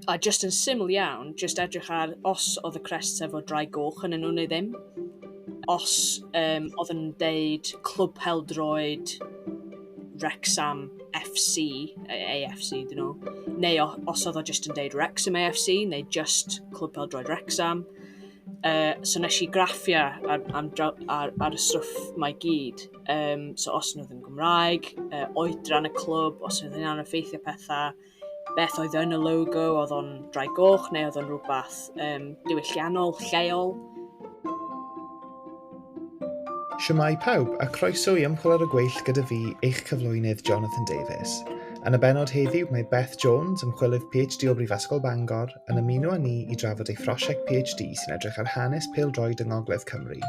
A jyst yn syml iawn, jyst edrych ar os oedd y crests efo dry goch yn nhw neu ddim. Os um, oedd yn deud Clwb Peldroed Wrexham FC, AFC dyn nhw, neu os oedd o jyst yn deud Wrexham AFC, neu jyst Clwb Peldroed Wrexham. Uh, so nes i graffiau ar, ar, ar, ar y stwff mae gyd. Um, so os nhw ddim Gymraeg, uh, oedran y clwb, os oedd hynna'n effeithio pethau, beth oedd yn y logo, oedd o'n drai goch neu oedd o'n rhywbeth um, diwylliannol, lleol. Siwmai pawb a croeso i ymchwil ar y gweill gyda fi, eich cyflwynydd Jonathan Davies. Yn y benod heddiw mae Beth Jones, ymchwilydd PhD o Brifysgol Bangor, yn ymuno â ni i drafod ei phrosiect PhD sy'n edrych ar hanes pêl-droed yng Ngogledd Cymru.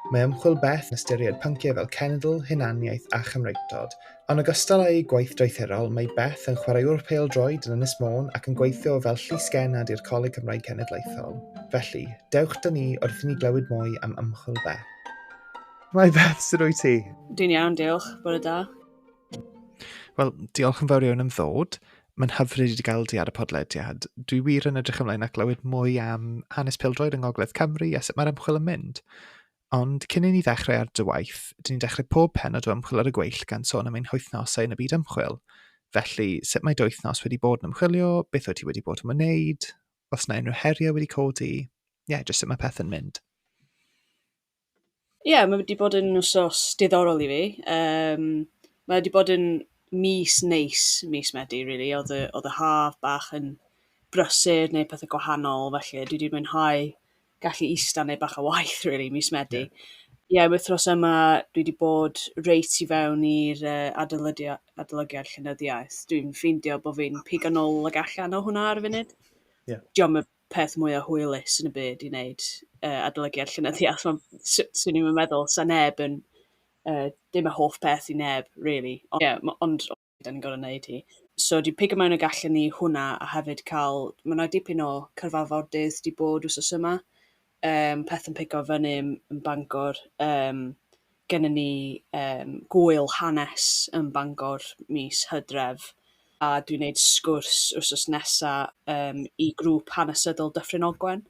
Mae ymchwil Beth yn ystyried pynciau fel cenedl, hunaniaeth a chymreictod. Yn ogystal â'i gwaith doethurol, mae Beth yn chwaraewr pêl-droed yn Ynys Môn ac yn gweithio fel llysgennad i'r Coleg Cymraeg Cenedlaethol. Felly, dewch da ni wrth i ni glywed mwy am ymchwil Beth. Mae Beth, sydd wyt ti? Dwi'n iawn, diolch. Bore da. Wel, diolch yn fawr iawn am ddod. Mae'n hyfryd i gael di ar y podlediad. Dwi wir yn edrych ymlaen at glywed mwy am hanes pildroed yng Ngogledd Cymru a sut mae'r ymchwil yn mynd. Ond cyn i ni ddechrau ar dy waith, dyn ni'n dechrau pob penod o ymchwil ar y gweill gan sôn am ein hoethnosau yn y byd ymchwil. Felly, sut mae dy wythnos wedi bod yn ymchwilio, beth wyt ti wedi bod yn wneud, os yna unrhyw heriau wedi codi, ie, yeah, jyst sut mae pethau'n mynd. Ie, mae wedi bod yn wsos diddorol i fi. Yym, mae wedi bod yn mis neis, mis Medi, rili. Oedd y... oedd y haf bach yn brysur, wneud pethe gwahanol, felly dwi 'di mwynhau gallu ista a wneud bach o waith, rili, mis Medi. Ie, yr wythnos yma dwi 'di bod reit i fewn i'r yy adolydia- adolygiad llenyddiaeth. Dwi'n ffeindio bod fi'n pigo nôl ac allan o hwnna ar y funud. Ie. Dio'm yn... peth mwya hwylus yn y byd i wneud, yy, adolygiad llenyddiaeth, ond s- 'swn i'm yn meddwl, 'sa neb yn, yy, dim y hoff peth i neb, rili. Ond ie, m- ond o- 'dan ni'n gorfod wneud hi. So dwi'n pigo mewn y gallen ni hwnna, a hefyd cael... Mae 'na dipyn o cyfarfodydd 'di bod wythnos yma, yym peth yn pigo fyny yn yn Bangor yym gennyn ni yym gŵyl hanes yn Bangor mis Hydref a dwi'n neud sgwrs wsos nesa yym i grŵp hanesyddol Dyffryn Ogwen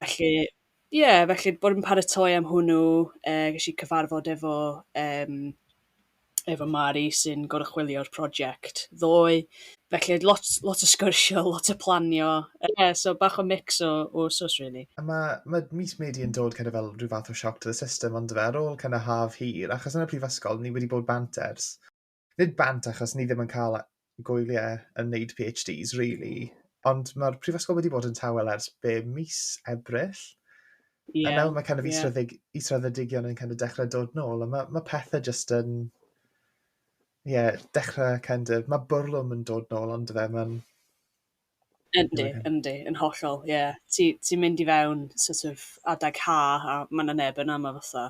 felly ie felly bod yn paratoi am hwnnw yy ges i cyfarfod efo yym efo Mari sy'n goruchwylio'r project ddoe, felly lot lot o sgwrsio, lot o planio, ie, so bach o mix o o swss rili. A ma' ma' mis Medi yn dod kind of fel rhyw fath o shock to the system on'd yfe? Ar ôl kind of haf hir, achos yn y prifysgol ni wedi bod bant ers, nid bant achos ni ddim yn ca'l gwyliau yn wneud PhDs rili, ond mae'r prifysgol wedi bod yn tawel ers be, mis Ebrill? Ie. A nawr mae kind of yeah. israddedig, israddedigion yn kind of dechrau dod nôl, a mae, mae pethau jyst yn... Ie, yeah, dechrau kind of... Mae bwrlwm yn dod nôl ond fe, mae'n... Yndi, yndi, yn hollol, ie. Ti ti'n mynd i fewn sort of adeg haf a ma' 'na neb yna, ma' fatha,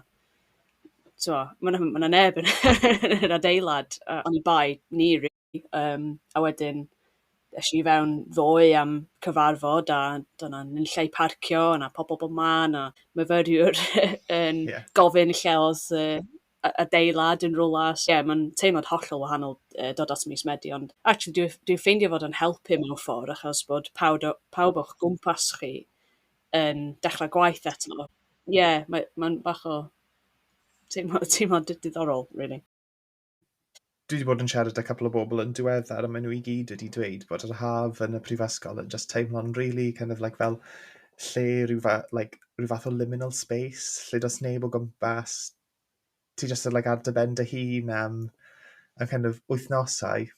tibod, ma' 'na ma' 'na neb yn yn yr adeilad, a oni bai ni rili. Yym, a wedyn es i i fewn ddoe am cyfarfod a doedd 'na ddim lle i parcio, o' 'na pobl bob man a myfyriwr yn gofyn lle oedd y a- adeilad yn rywle, so ie, mae'n teimlad hollol wahanol yy dod at mis Medi, ond actually dwi dwi'n ffeindio fod o'n helpu mewn ffordd achos bod pawb o- pawb o'ch gwmpas chi yn dechrau gwaith eto. Ie, mae mae'n bach o teimlo teimlad di- diddorol rili. Dwi 'di bod yn siarad â couple o bobl yn diweddar a maen nhw i gyd wedi dweud bod yr haf yn y prifysgol yn jyst teimlo'n rili kind of like fel lle rhyw fa- like rhyw fath o liminal space lle does neb o gwmpas, ti jyst yn like ar dy ben dy hun am y kind of wythnosau.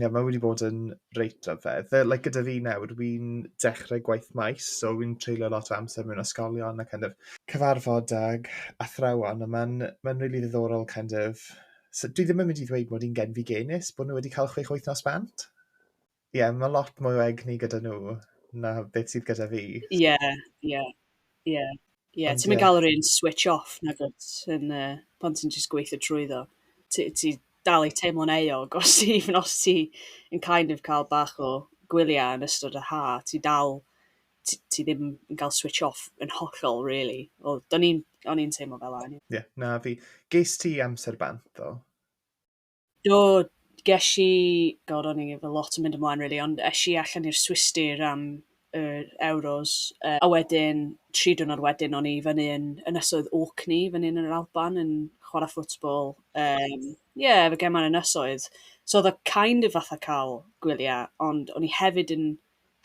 Ie mae wedi bod yn reit rhyfedd. Fe- like gyda fi nawr wi'n dechrau gwaith maes so wi'n treulio lot o amser mewn ysgolion a kind of cyfarfod ag athrawon a ma'n ma'n rili ddiddorol kind of So dwi ddim yn mynd i ddweud mod i'n genfigennus bod nhw wedi cael chwech wythnos bant. Ie, yeah, mae lot mwy o egni gyda nhw na beth sydd gyda fi. Ie, yeah, ie, yeah, ie. Yeah. Ie, yeah, ti'n mynd gael yr un switch off na gwrs yn, uh, pan ti'n just gweithio trwy ddo. Ti, ti dal i teimlo'n eog os ti, even os ti yn kind of cael bach o gwyliau yn ystod y ha, ti dal t- ti ddim yn cael switch off yn hollol really. Wel, do'n i'n, o'n i'n teimlo fel anyway. Ie, yeah, na fi. Geis ti amser bant ddo? Do, ges i, god o'n i efo lot yn mynd ymlaen really, ond esh i allan i'r Swistir am y Euros, uh, a wedyn, tri dwrnod wedyn, o'n i fyny yn ynysoedd Orkney, fyny yn yr Alban, yn chwarae ffwtbol. Um, yeah, efo gemau'r ynysoedd. So oedd o kind of fatha cael gwyliau, ond o'n i hefyd yn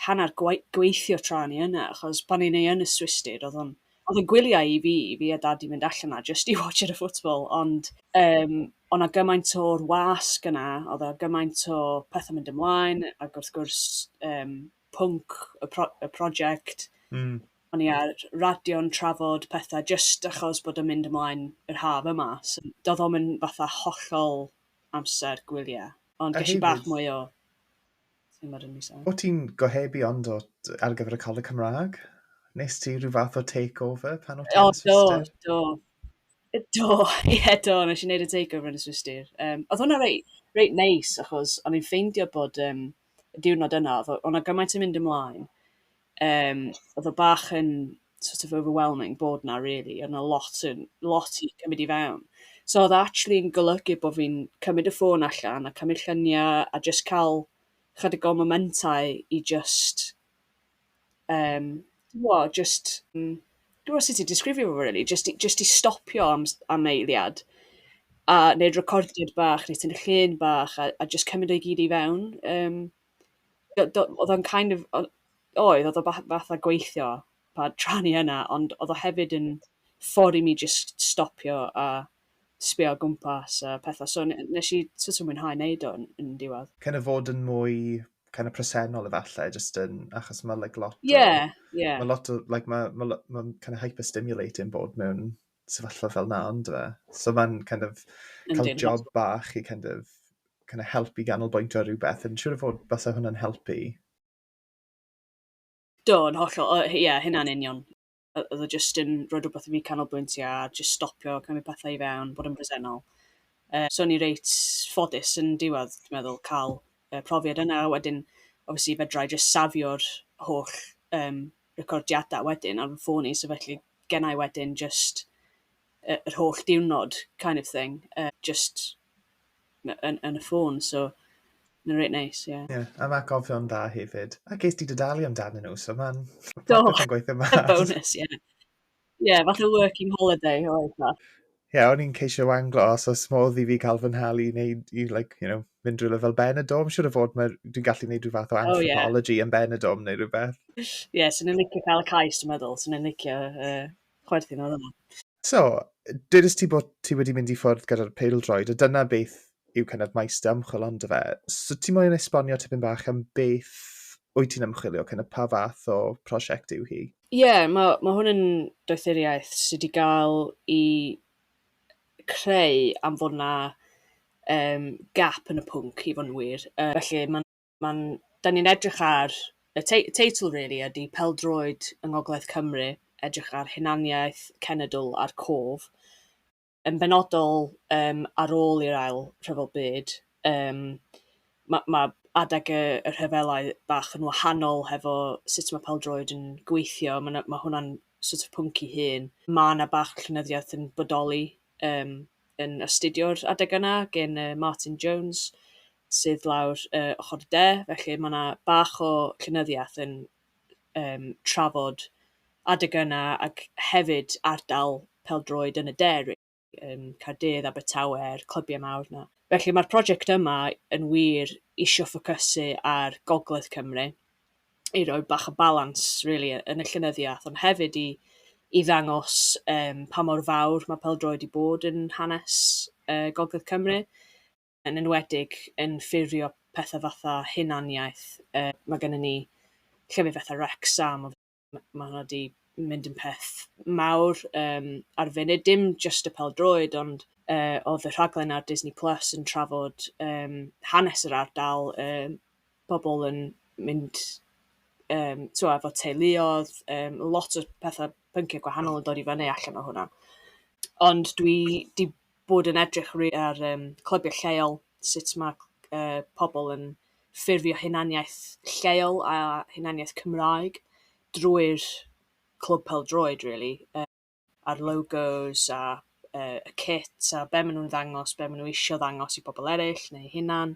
hanner gweithio tra o'n i yna, achos pan o'n i yn y Swistir, oedd o'n oedd o'n gwyliau i fi, i fi a dad i fynd allan yna, jyst i watch ar y football, ond um, o na gymaint o'r wasg yna, oedd o gymaint o pethau mynd ymlaen, ac wrth gwrs um, pwnc y, pro, y prosiect, mm. o'n i ar radio'n trafod pethau jyst achos bod yn mynd ymlaen yr haf yma, so doedd o'n mynd fatha hollol amser gwyliau, ond gysi bach mwy o O ti'n gohebu ond o t- ar gyfer y Coleg Cymraeg? Wnest ti rhyw fath o takeover pan o ti'n Swistir? Do, do. Do, ie yeah, do, nes i wneud y takeover yn y Swistir. Um, oedd hwnna reit, reit neis, achos o'n i'n ffeindio bod um, y diwrnod yna, oedd o'na gymaint yn mynd ymlaen, Yym, oedd o bach yn sort of overwhelming bod 'na rili, oedd 'na lot yn... lot i gymryd i fewn. So oedd o actually'n golygu bod fi'n cymryd y ffôn allan a cymryd lluniau a jyst cael chydig o momentau i jyst yym tibod jyst mm dwi'm yn gwybod sut i disgrifio fo rili, jyst i jyst i stopio am s- am eiliad a wneud recordiad bach, wneud cynnig llun bach a a jyst cymryd o i gyd i fewn yym. do- do- oedd o'n kind of o- oedd, oedd o fath- fatha gweithio pa tra o'n i yna, ond oedd o hefyd yn ffordd i mi jyst stopio a sbio o gwmpas a pethau. So n- nes i sort of mwynhau wneud o yn, yn diwedd. Kind of fod yn mwy kind of presennol efallai, just yn, achos mae like, lot o... Yeah, yeah. Mae lot o, like, mae ma, ma kind of hyperstimulating bod mewn sefyllfa fel na, ond fe. So mae'n kind of cael job bach i kind of, kind of helpu ganolbwyntio rhywbeth, yn siŵr o fod basau hwnna'n helpu. Do, yn hollol, ie, yeah, hynna'n union. Oedd o jyst yn rhoi rhywbeth i fi canolbwyntio a jyst stopio cymryd pethau i fewn, bod yn bresennol. Uh, so ni reit ffodus yn diwedd, dwi'n meddwl, cael uh, profiad yna, wedyn, obviously, fedrai jyst safio'r holl um, recordiadau wedyn ar fy ffôn i, so felly genna i wedyn jyst y yr holl diwrnod kind of thing yy jyst my- yn yn y ffôn, so mae'n reit neis, ie. Ie, am atgofion da hefyd. A ges di dy dalu amdanyn nhw, so ma'n... Do! ...popeth yn gweithio mas. Bonws, ie. Ie, fatha working holiday oedd o. Ie, o'n i'n ceisio wanglo os oes modd i fi cael fy nhalu i wneud, i like, you know, mynd rhywle fel Benidorm, siwr o fod mae, dwi'n gallu gwneud rhyw fath o anthropology oh, yeah. anthropology yn Benidorm neu rhywbeth. Ie, yeah, sy'n ni'n licio cael y cais, dwi'n meddwl, sy'n ni'n licio uh, chwerthin oedd yna. So, dydys ti bod ti wedi mynd i ffwrdd gyda'r peildroed, a dyna beth yw kind of maes dy ymchwil ond y fe. So ti moyn esbonio tipyn bach am beth wyt ti'n ymchwilio, kind of pa fath o prosiect yw hi? Ie, ma' ma' hwn yn doethuriaeth sy 'di ga'l 'i creu am fod 'na, yym, gap yn y pwnc, i fod yn wir. Yy, felly ma'n ma'n... 'dan ni'n edrych ar y tei- y teitl rili ydi Pêl-droed yng Ngogledd Cymru, edrych ar hunaniaeth, cenedl a'r cof. yn benodol yym ar ôl i'r ail rhyfel byd, yym ma' ma' adeg y y rhyfelau bach yn wahanol hefo sut ma' pêl-droed yn gweithio, ma' 'na ma' hwnna'n sort of pwnc 'i hun. Ma' 'na bach llenyddiaeth yn bodoli yym yn astudio'r adeg yna gen yy Martin Jones sydd lawr yy ochor y de, felly ma' 'na bach o llenyddiaeth yn yym trafod adeg yna ac hefyd ardal pêl-droed yn y de rili, yym Caerdydd, Abertawe a'r clybiau mawr 'na. Felly mae'r prosiect yma yn wir isio ffocysu ar gogledd Cymru i roi bach o balans rili yn y llenyddiaeth ond hefyd i i ddangos yym pa mor fawr mae pêl-droed 'di bod yn hanes yy gogledd Cymru. yn enwedig yn ffurfio pethe fatha hunaniaeth. Yy, ma' gynnon ni llefydd fatha Wrecsam, ma' hwnna 'di mynd yn peth mawr yym ar y funud, dim jyst y pêl-droed ond yy o'dd y rhaglen ar Disney Plus yn trafod yym hanes yr ardal, yym pobol yn mynd yym t'wo' efo teuluodd, yym lot o petha pyncie gwahanol yn dod i fyny allan o hwnna. Ond dwi 'di bod yn edrych rili ar yym clybiau lleol, sut ma' c- yy pobl yn ffurfio hunaniaeth lleol a hunaniaeth Cymraeg drwy'r clwb pêl-droed rili, yy a'r logos a yy y kit a be' ma' nw'n ddangos be' ma' nw isio ddangos i pobl eryll neu'u hunan.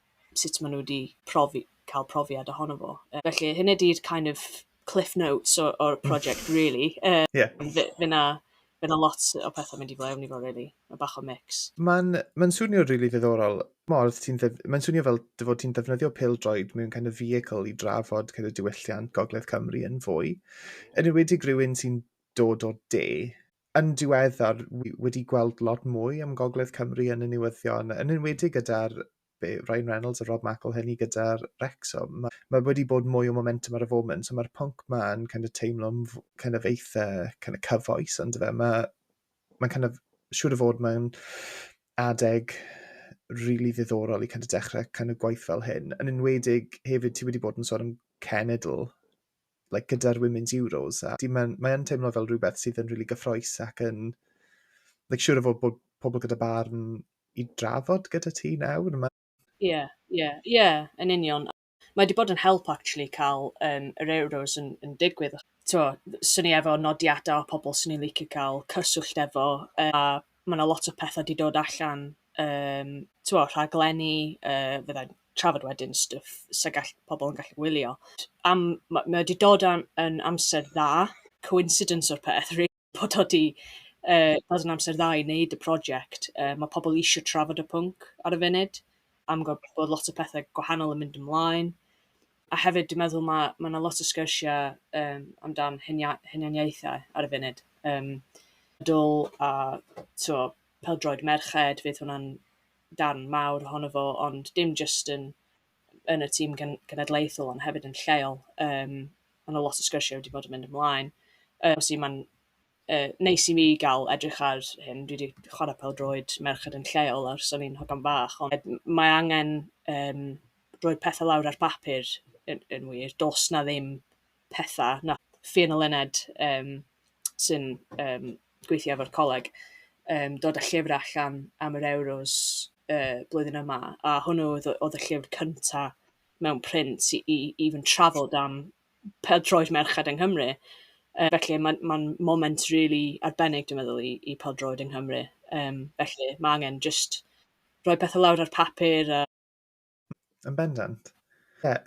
sut maen nhw wedi profi- cael profiad ohono fo. Yy, felly, hynny ydy'r kind of cliff notes o'r, or project, really. Uh, yeah. Fe, fe na, fe na lot o pethau mynd i flaen i fo, really. Mae bach o mix. Mae'n ma swnio rili really ddiddorol. Mae'n swnio fel dy fod ti'n defnyddio pil droed mewn kind of vehicle i drafod kind of diwylliant Gogledd Cymru yn fwy. Yn ywedig rhywun sy'n dod o de, yn diweddar wi wedi gweld lot mwy am Gogledd Cymru yn y newyddion, yn enwedig gyda'r be, Ryan Reynolds a Rob McElhenney gyda'r Wrexham. Mae ma wedi bod mwy o momentum ar y foment, so mae'r pwnc ma yn kind of teimlo'n kind of eitha kind of cyfoes, ond fe, mae ma kind of siŵr o fod mae'n adeg really ddiddorol i kind of dechrau kind of gwaith fel hyn. Yn enwedig hefyd, ti wedi bod yn sôn am cenedl like, gyda'r Women's Euros, a mae'n mae teimlo fel rhywbeth sydd yn rili really gyffroes ac yn, like, siŵr o fod bod pobl gyda barn i drafod gyda ti nawr. Ie, ie, ie, yeah, yn union. Mae wedi bod yn help, actually, cael um, yr Euros yn, yn digwydd. Tio, swn i efo nodiadau o pobl swn i'n licio cael cyswllt efo, a ma' 'na lot o petha 'di dod allan yym t'mo' rhaglenni yy fyddai'n trafod wedyn stwff sa gall pobol yn gallu wylio t- am ma' mae o 'di dod am yn amser dda, coincidence o'r peth rili bod o 'di yy dod yn amser dda i wneud y project yy ma' pobl isio trafod y pwnc ar y funud am gwel' bod lot o pethe gwahanol yn mynd ymlaen. A hefyd dwi'n meddwl ma' ma' 'na lot o sgyrsiau yym amdan hunia- hunaniaethau ar y funud yym dwl a tibod pêl-droed merched, fydd hwnna'n darn mawr ohono fo, ond dim jyst yn yn y tîm gen- genedlaethol ond hefyd yn lleol yym ma' 'na lot o sgyrsiau wedi bod yn mynd ymlaen. Yym felly ma'n... yy, neis i mi gael edrych ar hyn. Dwi 'di chwarae pêl-droed merched yn lleol ers o'n i'n hogan bach, ond m- mae angen, yym, rhoi pethe lawr ar bapur yn yn wir. Does 'na ddim petha na fi yn y llynedd, yym, sy'n, yym, gweithio efo'r coleg, yym, dod â llyfrau allan am yr Euros, yy, blwyddyn yma, a hwnnw oedd y oedd y llyfr cynta mewn print i i i fy nhrafod am pêl-droed merched yng Nghymru. Yy felly mae'n mae'n moment rili arbennig dwi'n meddwl i i pêl-droed yng Nghymru. Yym felly ma' angen jyst rhoi pethe lawr ar papur a... Yn bendant. Ie,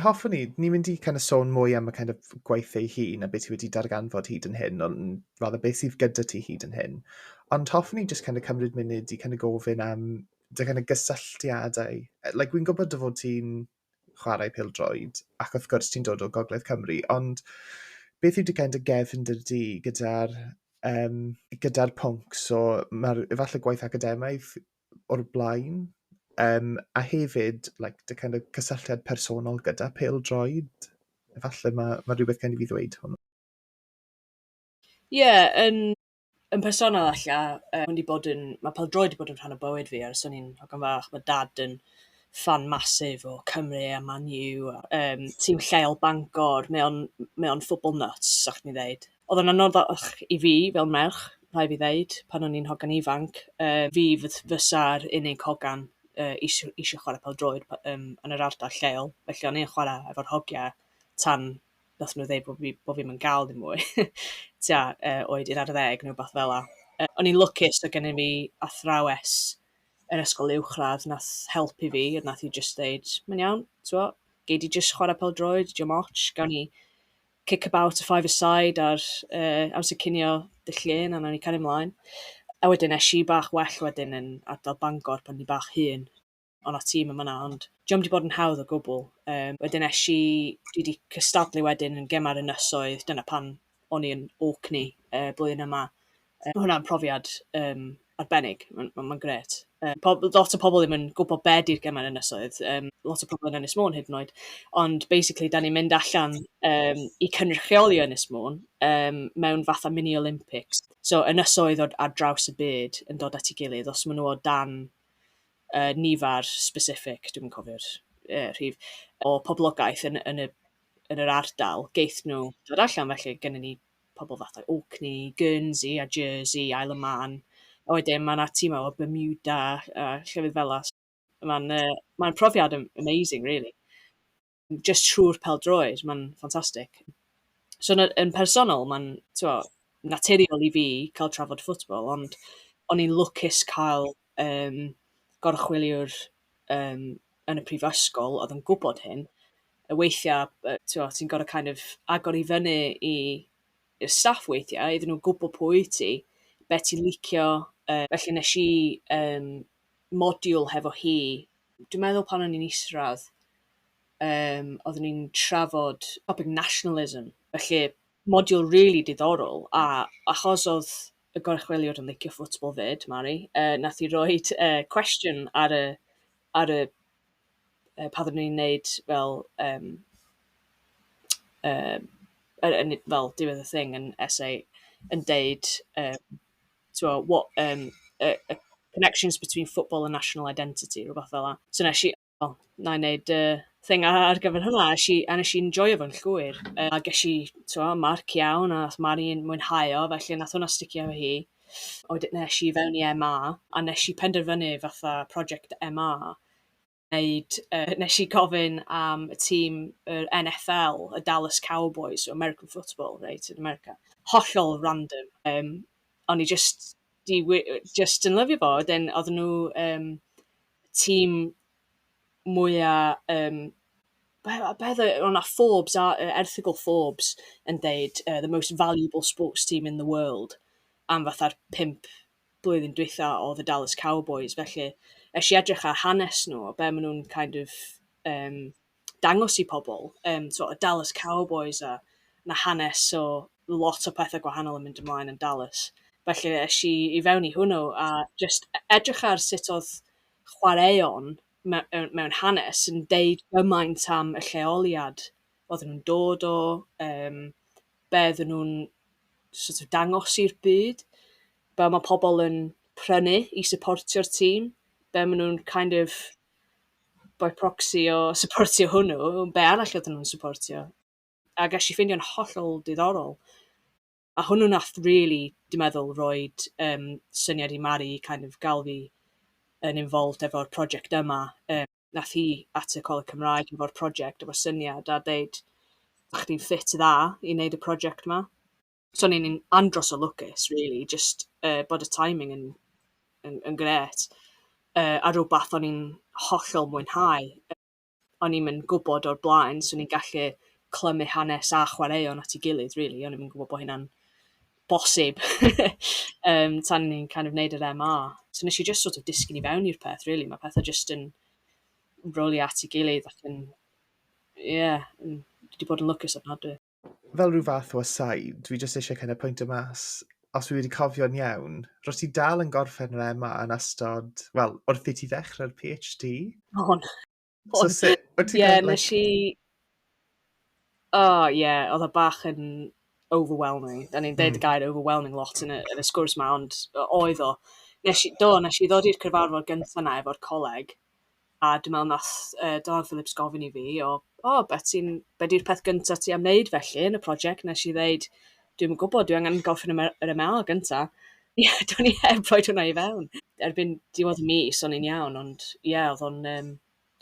hoffwn i, ni'n mynd i kind of sôn mwy am y kind of gwaith ei hun a beth sydd wedi darganfod hyd yn hyn, ond rather beth sydd gyda ti hyd yn hyn. Ond hoffwn i just kind of cymryd munud i kind of gofyn am dy kind of gysylltiadau. Like, wy'n gwybod dy fod ti'n chwarae pêl-droed, ac wrth gwrs ti'n dod o Gogledd Cymru, ond beth yw dy gend a gefn dy du gyda'r um, gyda pwnc, so mae'r efallai gwaith academaidd o'r blaen, um, a hefyd like, dy kind of cysylltiad personol gyda pêl-droed, efallai mae, mae rhywbeth gen i fi ddweud hwnnw. Ie, yeah, yn Yn personol alla, yy, wedi bod yn... Mae pêl-droed wedi bod yn rhan o bywyd fi ers o'n i'n hogan fach. Mae Dad yn ffan massive o Cymru a Man U a, yym, tîm lleol Bangor. Mae o'n m- mae o'n football nut, 'sa chdi'n ddeud. Oedd o'n anoddach i fi fel merch, rhaid fi ddeud, pan o'n i'n hogan ifanc. Yy, fi f- fysa'r unig hogan, yy, isio isio chwarae pêl-droed p- yym yn yr ardal lleol. Felly o'n i yn chwarae efo'r hogiau tan nath nhw ddeud bod fi bod fi'm yn gael dim mwy tua uh, oed 11 neu beth fel 'a. Uh, o'n i'n lwcus so gennym fi athrawes yr ysgol uwchradd nath helpu fi, nath i jyst ddeud, mae'n iawn, t'mo', gei di jyst chwarae pel droed, dim ots, gawn ni kick about a five aside ar uh, amser cinio dy llun a nawn ni cario ymlaen. A wedyn eisiau bach well wedyn yn ardal Bangor pan ni bach hun. o' 'na tîm yn fan'na ond 'di o'm 'di bod yn hawdd o gwbl. Yym wedyn esh i... Dwi 'di cystadlu wedyn yn Gemau'r Ynysoedd, dyna pan o'n i yn Orkney y blwyddyn yma. Yy ma' hwnna'n profiad yym arbennig, ma'n ma' ma'n grêt. Yy pob- lot o pobl ddim yn gwbod be' 'di'r Gemau'r Ynysoedd, yym lot o pobl yn Ynys Môn hyd yn oed ond basically 'dan ni'n mynd allan yym i cynrychioli Ynys Môn yym mewn fatha mini Olympics. So ynysoedd o- ar draws y byd yn dod at 'i gilydd, os ma' nhw o dan yy nifer specific, dwi'm yn cofio'r yy rhif, o poblogaeth yn yn y yn yr ardal, geith nhw ddod allan. Felly, gynnon ni pobl fatha Orkney, Guernsey a Jersey, Isle of Man, a wedyn ma' 'na tîmau o Bermuda a llefydd fela. Mae'n yy mae'n profiad am- amazing rili. jyst trwy'r pêl-droed, mae'n ffantastig. So yn y... yn personol, mae'n, tibod, naturiol i fi cael trafod football, ond o'n i'n lwcus cael, yym, gorchwyliwr, yym, yn y prifysgol oedd yn gwybod hyn. A weithiau, yy, tibod, ti'n gorfod kind of agor i fyny i i'r staff weithiau, iddyn nhw gwybod pwy wyt ti, be ti'n licio, yy. Felly wnes i, yym, modiwl hefo hi, dwi'n meddwl pan o'n i'n isradd, um, oeddwn ni'n trafod topic nationalism, felly modiwl really diddorol, a achos oedd y gorchweliwr yn licio ffwtbol fyd, Mari, uh, nath i roi uh, cwestiwn ar y, ar y uh, pan oeddwn ni'n neud fel, um, uh, fel diwedd y thing yn essay, yn deud, uh, tibod, what yym y y connections between football and national identity, rywbeth fel 'na. So wnes i, wel, wna i wneud y thing a- ar gyfer hwnna. A es i a wnes i enjoio fo'n llwyr. Yy, a ges i, tibod, marc iawn, a wnaeth Mari mwynhau o, felly wnaeth hwnna sticio efo hi. A wedyn es i i fewn i MA, a wnes i penderfynu fatha project MA... wneud, yy, wnes i gofyn am y tîm yr NFL, y Dallas Cowboys, so American football, reit, yn America. Hollol random. Um, o'n i just, di, just yn lyfio fo, wedyn oedd nhw um, tîm mwyaf... Um, be, be oedd o'na Forbes, a, uh, erthigol Forbes yn deud uh, the most valuable sports team in the world am fatha'r pimp blwyddyn dwytha o The Dallas Cowboys, felly eisiau edrych ar hanes nhw, o be maen nhw'n kind of um, dangos i pobl. Um, so, y Dallas Cowboys a na hanes o lot o pethau gwahanol yn mynd ymlaen yn Dallas. Felly eisiau i, i fewn i hwnnw a just e-, edrych ar sut oedd chwaraeon mewn, mewn hanes yn deud gymaint am y lleoliad oedden nhw'n dod o, um, be oedden nhw'n sort of dangos i'r byd, be mae pobl yn prynu i supportio'r tîm, be maen nhw'n kind of by proxy o supportio hwnnw, be arall oedden nhw'n supportio. A ges i ffeindio'n hollol diddorol. A hwnnw nath rili, dwi'n meddwl, roi um, syniad i Mari i kind of gael fi yn involved efo'r prosiect yma. Um, wnaeth hi at y Coleg Cymraeg efo'r project, efo'r syniad a deud, "'sa chdi'n ffit dda i wneud y project 'ma?" So o'n i'n andros o lwcus rili jyst, yy, bod y timing yn yn yn grêt, yy, a rywbeth o'n i'n hollol mwynhau. O'n i'm yn gwybod o'r blaen 'swn i'n gallu clymu hanes a chwaraeon at ei gilydd rili, o'n i'm yn gwybod bod hynna'n bosib yym tan ni'n kind of neud yr MA. So nes i jyst sort of disgyn i fewn i'r peth rili, mae pethau jyst yn rowlio at ei gilydd ac yn ie, dwi 'di bod yn lwcus ofnadwy. Fel rhyw fath o aside, dwi jyst eisiau kind of pwyntio mas, os fi wedi cofio'n iawn, rwyt ti dal yn gorffen yr MA yn ystod, wel, wrth i ti ddechrau'r PhD? O'n. So sut, wyt ti'n yeah, gwneud? Ie, i... Oh, ie, yeah, oedd o bach yn overwhelming. Da ni'n deud mm. y gair overwhelming lot yn y, yn y sgwrs ma, ond oedd o. Nes i, do, nes i ddod i'r cyfarfod gyntaf na efo'r coleg, a dwi'n meddwl nath uh, Donald Phillips gofyn i fi, o, o, beth ti'n, be di'r peth gyntaf ti am wneud felly yn y prosiect? Nes i ddeud, dwi'm yn gwybod, dwi angen gorffen y yr MA gynta. Ie, do'n i heb rhoi hwnna i fewn. Erbyn diwedd y mis o'n i'n iawn, ond ie, oedd o'n yym...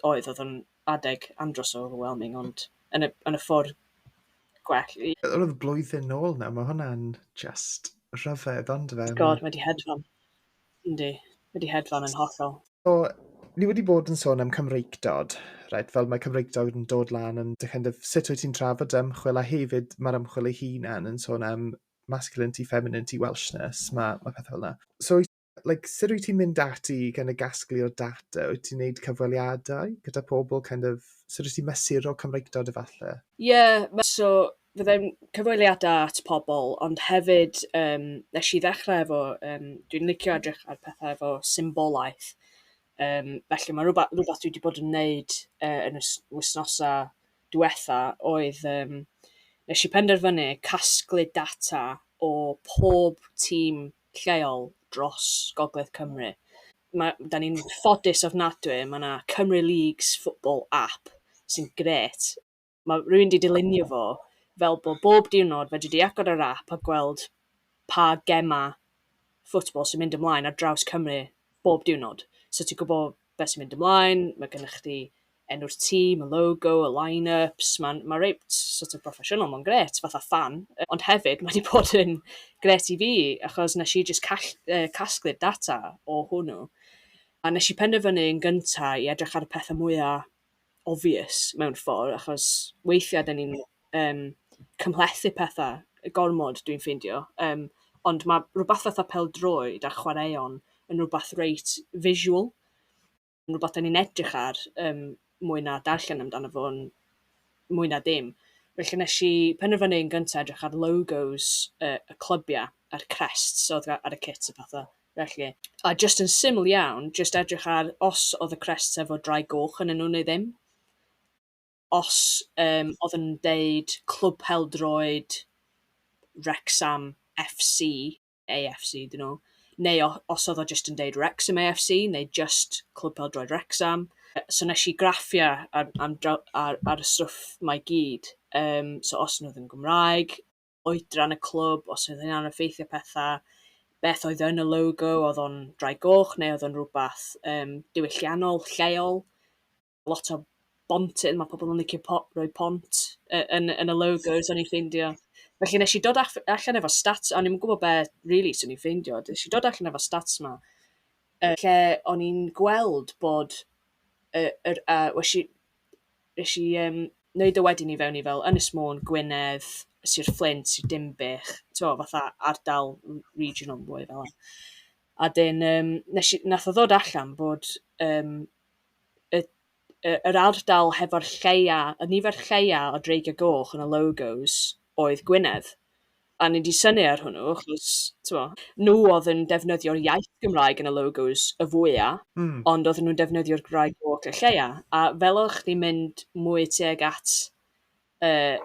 oedd, oedd o'n adeg andros o overwhelming, ond yn y yn y ffordd gwell i... Wel, oedd blwyddyn nôl nawr, mae hwnna'n jyst rhyfedd, ondife? God, mae 'di hedfan. Yndi, wedi hedfan yn hollol. So, ni wedi bod yn sôn am Cymreictod, right, fel mae Cymreictod yn dod lan yn dy kind of, sut wyt ti'n trafod ymchwil, a hefyd mae'r ymchwil ei hunan yn sôn am masculinity, femininity, Welshness, mae, mae pethau fel yna. So, like, sut wyt ti'n mynd ati i kind of gasglu o data? Wyt ti'n gwneud cyfweliadau gyda pobl, kind of, sut wyt ti'n mesur o Cymreictod efallai? Ie, yeah, so fydda i'n cyfweliadau at pobl, ond hefyd yym wnes i ddechrau efo yym dwi'n licio edrych ar pethau efo symbolaeth, yym felly ma' rwba- rwbath dwi wedi bod yn wneud yy yn y s- wythnosau diwetha' oedd yym wnes i penderfynu casglu data o pob tîm lleol dros Gogledd Cymru. Ma'... 'da ni'n ffodus ofnadwy, ma' 'na Cymru Leagues Football app sy'n grêt. ma' rywun 'di dylunio fo fel bod bob diwrnod fedri di agor yr ap a gweld pa gemau football sy'n mynd ymlaen ar draws Cymru bob diwrnod. So ti'n gwybod beth sy'n mynd ymlaen, mae gennych chdi enw'r tîm, y logo, y line-ups, mae'n ma reit sort of broffesiynol, mae'n gret, fatha fan. Ond hefyd, mae wedi bod yn gret i fi, achos nes i jyst call, uh, casglu'r data o hwnnw. A nes i penderfynu yn gyntaf i edrych ar y pethau mwyaf obvious mewn ffordd, achos weithiau dan ni'n yym cymhlethu pethau gormod dwi'n ffeindio. Yym, ond ma' rywbeth fatha pêl-droed a chwaraeon yn rywbeth reit visual, yn rywbeth dan ni'n edrych ar yym mwy na darllen amdano fo'n mwy na dim. Felly wnes i penderfynu yn gyntaf edrych ar logos y y clybiau a'r crests oedd ar y kits a pethau. felly. A jyst yn syml iawn, jyst edrych ar os oedd y crests efo drai goch yn nhw neu ddim. Os um, oedd yn deud Clwb Peldroed Wrexham FC, AFC dyn nhw, neu os oedd o jyst yn deud Wrexham AFC, neu jyst Clwb Peldroed Wrexham. So nes i graffiau ar, ar, ar, ar y stwff mae gyd. Um, so os nhw ddim Gymraeg, oedran y clwb, os oedd hynna'n effeithio pethau, beth oedd yn y logo, oedd o'n drai goch neu oedd o'n rhywbeth um, diwylliannol, lleol, lot o bontydd, mae pobl yn licio po rhoi pont uh, yn, yn y logos, o'n i'n ffeindio. Felly nes i dod allan efo stats, o'n i'n gwybod beth really sy'n i'n ffeindio, nes i dod allan efo stats yma, uh, lle o'n i'n gweld bod, uh, er, uh, wesi, Wnes i yym wneud o wedyn i fewn i fel Ynys Môn, Gwynedd, Sir Fflint, Sir Dinbych, tibod fatha ardal r- regional mwy fel 'na. A 'dyn yym wnes i... wnaeth o ddod allan bod yym y y yr ardal hefo'r lleia... y nifer lleia o Dreigiau Goch yn y logos oedd Gwynedd. A o'n i 'di synnu ar hwnnw achos, timod, nhw oedd yn defnyddio'r iaith Gymraeg yn y logos y fwya', ond oedden nhw'n defnyddio'r Gymraeg jôc y lleia'. A fel o'ch chdi'n mynd mwy tuag at yy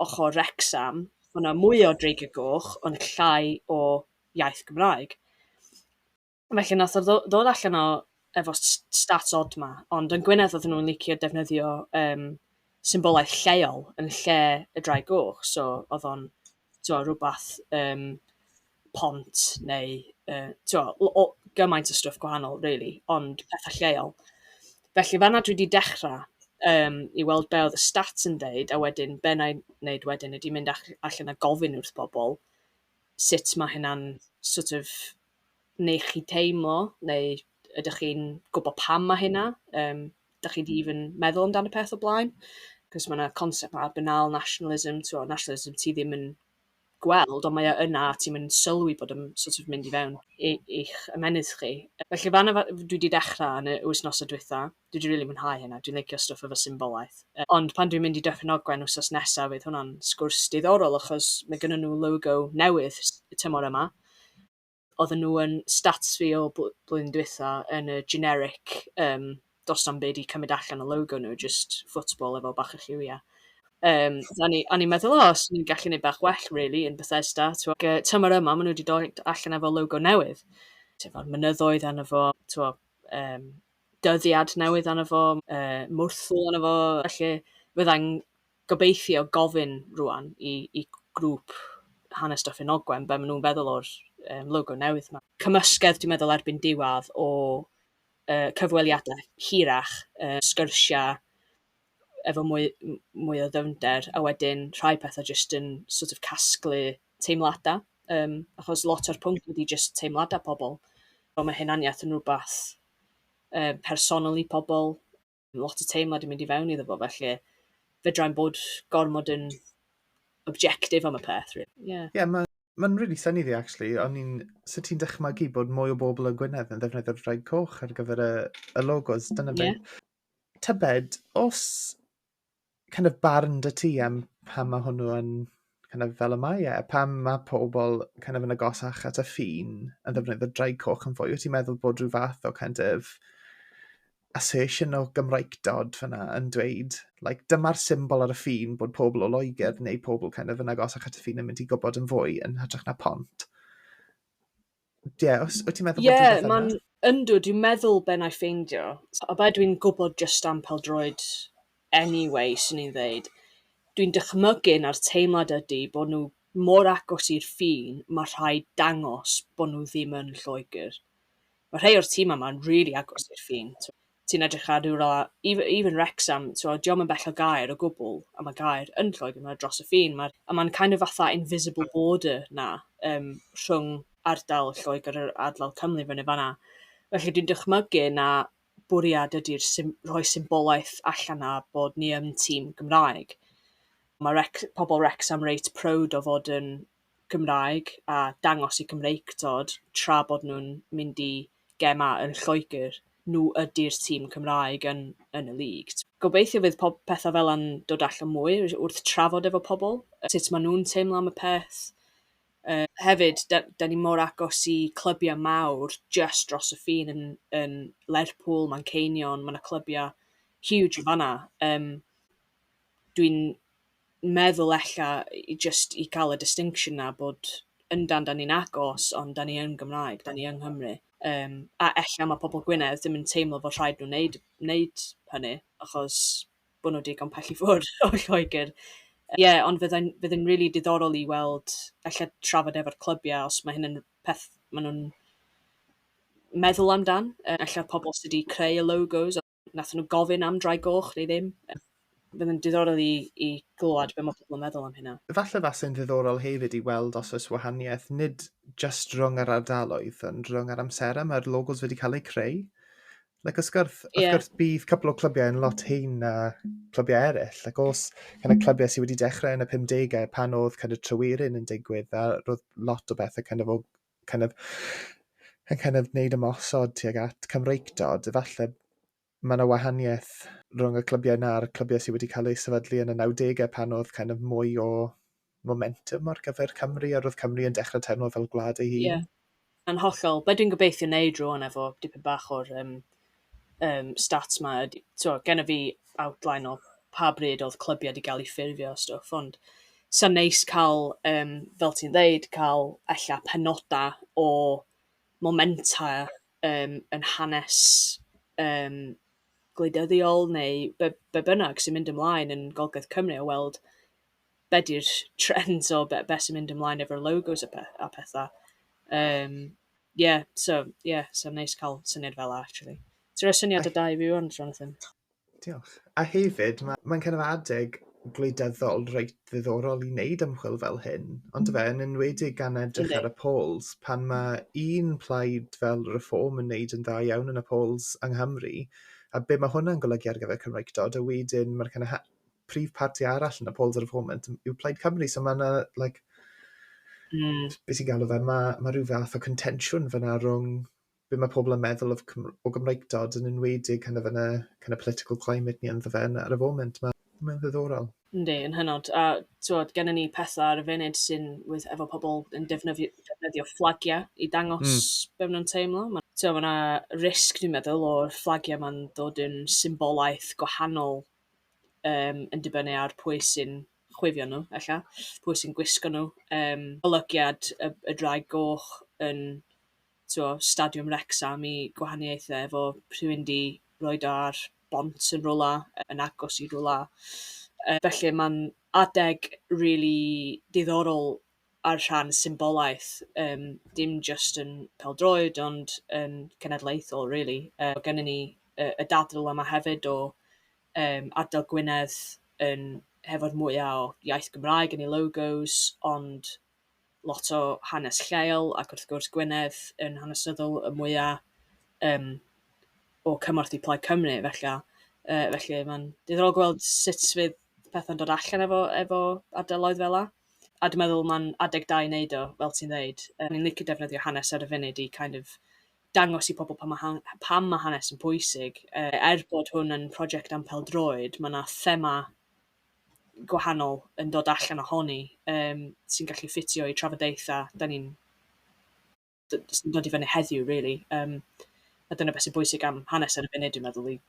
ochr Wrecsam, o' 'na mwy o Dreigiau Goch, ond llai o iaith Gymraeg. Felly wnaeth o ddo- ddod allan o efo s- s- stats odd 'ma, ond yn Gwynedd oedden nhw'n licio defnyddio yym symbolaeth lleol yn lle y ddraig goch, so oedd o'n tibod rywbeth yym pont neu yy tibod l- o- gymaint o stwff gwahanol rili, ond petha' lleol. Felly fan'na dwi 'di dechrau yym i weld be oedd y stats yn deud, a wedyn be wna i wneud wedyn ydy mynd ach- allan a gofyn wrth bobl sut ma' hynna'n sort of neu chi teimlo, neu ydych chi'n gwybod pam mae hynna? Yym, dach chi 'di even meddwl amdano peth o blaen? Cos mae yna concept 'ma banal nationalism, tibod, nationalism ti ddim yn gweld, ond mae o yna a ti'm yn sylwi bod o'n sort of mynd i fewn i i'ch ymennydd chi. Felly fan'na fa- dwi 'di dechrau yn y wythnosau dwytha. dwi 'di rili mwynhau hynna, dwi'n licio stwff efo symbolaeth. Ond pan dwi'n mynd i Dyffryn Ogwen wsos nesa fydd hwnna'n sgwrs diddorol achos mae gynnon nhw logo newydd y tymor yma. Oedden nhw yn stats fi o bl- blwyddyn dwytha yn y generic um, dos na'm byd i cymryd allan o logo nhw, just football efo bach o lliwiau. Um, a ni, a ni'n meddwl, o, os ni'n gallu gwneud bach well, really, yn Bethesda. Twa, tymor yma, maen nhw wedi dod allan efo logo newydd. Tefo'r mynyddoedd arno fo, twa, um, dyddiad newydd arno fo, yy, mwrthwl arno fo, felly fydda i'n gobeithio gofyn rŵan i i grŵp Hanes Dyffryn Ogwen be maen nhw'n feddwl o'r um, logo newydd yma. Cymysgedd, dwi'n meddwl, erbyn diwedd o uh, cyfweliadau hirach, uh, sgyrsiau efo mwy, mwy o ddyfnder, a wedyn rhai pethau jyst yn sort of casglu teimladau, um, achos lot o'r pwnc ydy jyst teimladau pobl. Ond mae hunaniaeth yn rhywbeth yy personol i pobl, lot o teimlad yn mynd i fewn iddo fo, felly fedrai'm bod gormod yn objective am y peth rili, ie. Ie ma' ma'n rili synni fi actually o'n i'n... Sut ti'n dychmygu bod mwy o bobl yn Gwynedd yn ddefnyddio'r Ddraig Coch ar gyfer y y logos dyna be... Ie. ...tybed os kind of barn dy ti am pam ma' hwnnw yn kind of fel y mae e? Pam ma' pobl kind of yn agosach at y ffin yn ddefnyddio draig coch yn fwy? Wyt ti'n meddwl bod rhyw fath o kind of assertion o Gymraegdod fyna yn dweud, like, dyma'r symbol ar y ffin bod pobl o Loegr neu pobl kind of yn agosach at y ffin yn mynd i gwybod yn fwy yn hytrach na pont? Ie, os wyt ti'n meddwl bod rhywbeth yna. Ie, yndw, dwi'n meddwl be na i ffeindio. A be dwi'n gwybod jyst am peldroed anyway, swn i'n ddeud, dwi'n dychmygu na'r teimlad ydy bod nhw mor agos i'r ffin, mae rhaid dangos bod nhw ddim yn Lloegr. Mae rhai o'r tîmau yma'n rili agos i'r ffin. ti'n edrych ar rywle fel even even Wrecsam t'mod 'di o'm yn bell o Gaer o gwbwl a ma' Gaer yn Lloegr ma' dros y ffin ma'r a ma'n kind of fatha invisible border 'na yym rhwng ardal Lloegr a'r ardal Cymru fyny fan 'na. Felly dwi'n dychmygu na bwriad ydi'r sym- rhoi symbolaeth allan 'na bod ni yn tîm Gymraeg. Ma' Wrex- pobl Wrecsam reit proud o fod yn Gymraeg a dangos eu Cymreictod tra bod nhw'n mynd i gemau yn Lloegr, nhw ydy'r tîm Cymraeg yn yn y League. Gobeithio fydd pob pethau fela'n dod allan mwy wrth trafod efo pobl sut maen nhw'n teimlo am y peth. Hefyd, 'da ni mor agos i clybiau mawr jyst dros y ffin yn yn Lerpwl, Manceinion, mae 'na clybiau huge yn fan'na. Yym dwi'n meddwl ella i jyst i cael y distinction 'na bod yndan 'dan ni'n agos ond 'dan ni yn Gymraeg, 'dan ni yng Nghymru. Yym a ella ma' pobl Gwynedd ddim yn teimlo fod rhaid nhw wneud wneud hynny achos bod nhw digon pell i ffwrdd o Lloegr. Ie ond fyddai'n fyddai'n rili diddorol i weld ella trafod efo'r clybiau os mae hyn yn peth maen nhw'n meddwl amdan, yy ella pobl sy' 'di creu y logos. wnaethon nhw gofyn am drai goch neu ddim. Fydd yn diddorol i, i glywed beth mae pobl yn meddwl am hynna. Falle fase'n ddiddorol hefyd i weld os oes wahaniaeth nid just rhwng yr ardaloedd, ond rhwng yr amserau mae'r logos wedi cael eu creu. Like, os gwrs, yeah. os gwrs bydd cwpl o clybiau yn lot hyn na clybiau eraill. Like, os kind of clybiau sydd wedi dechrau yn y 50au pan oedd kind of trywiryn yn digwydd a roedd lot o bethau kind of o kind of, yn kind of wneud ymosod tuag at Cymreictod, efallai mae yna wahaniaeth rhwng y clybiau na'r clybiau sydd wedi cael eu sefydlu yn y 90au pan oedd kind of mwy o momentum ar gyfer Cymru a roedd Cymru yn dechrau teimlo fel gwlad ei hun. Ie, yn hollol. Be dwi'n gobeithio wneud rwan efo dipyn bach o'r um, yym, stats 'ma ydy... Tibod, gynna fi outline o pa bryd oedd clybiau 'di gael eu ffurfio a stwff, ond 'sa'n neis cael, yym, fel ti'n ddeud, cael ella penodau o momentau, yym, yn hanes, yym, gwleidyddiol neu be be bynnag sy'n mynd ymlaen yn Gogledd Cymru a weld be 'di'r trends o be be sy'n mynd ymlaen efo'r logos a pe- a petha. Yym. Ie, so, ie, so neis cael syniad fel yna, actually. Ti'n rhoi syniad o da i fi wan, Jonathan. Diolch. A hefyd, mae'n ma kind of adeg gwleidyddol reit ddiddorol i wneud ymchwil fel hyn, ond fe, yn enwedig gan edrych ar y polls, pan mae un plaid fel reform yn wneud yn dda iawn yn y polls yng Nghymru, a be mae hwnna'n golygu ar gyfer Cymreictod, a wedyn mae'r kind of prif parti arall yn y polls ar y foment yw Plaid Cymru, so mae yna, like, mm. beth sy'n galw fe, mae, mae rhyw fath o contensiwn fyna rhwng be mae pobl yn meddwl of, o Gymreigdod yn enwedig kind of, yn y kind of political climate ni ynddo fe ar y foment. Mae'n ma ddiddorol. Yndi, yn hynod. A tywod, gennym ni pethau ar y funud sy'n with efo pobl yn defnyddio, defnyddio fflagiau i dangos mm. be maen nhw'n teimlo. Mae yna risg, dwi'n meddwl, o'r fflagiau mae'n dod yn symbolaeth gwahanol yym, yn dibynnu ar pwy sy'n chwifio nhw ella, pwy sy'n gwisgo nhw. Yym, golygiad y y Ddraig Goch yn, tibod, Stadiwm Wrecsam i gwahaniaethau efo rhywun 'di roid o ar bont yn rywle, yn agos i rywle. Yy, felly mae'n adeg rili diddorol ar rhan symbolaeth, yym, dim jyst yn pêl-droed ond yn cenedlaethol rili. Yy oedd gennyn ni y y dadl yma hefyd o yym ardal Gwynedd yn hefo'r mwya o iaith Gymraeg yn ei logos ond lot o hanes lleol ac wrth gwrs Gwynedd yn hanesyddol y mwya yym o cymorth i Plaid Cymru felly yy felly mae'n diddorol gweld sut fydd pethau'n dod allan efo efo ardaloedd fela. A dwi'n meddwl mae'n adeg da i wneud o, fel ti'n ddeud. O'n i'n licio defnyddio hanes ar y funud i kind of dangos i pobl pam mae han- pam mae hanes yn pwysig. Yy, er bod hwn yn prosiect am pêl-droed, mae 'na thema gwahanol yn dod allan ohoni, yym, sy'n gallu ffitio i trafodaethau 'dan ni'n d- jyst yn dod i fyny heddiw rili, yym, a dyna beth sy'n bwysig am hanes ar y funud dwi'n meddwl i-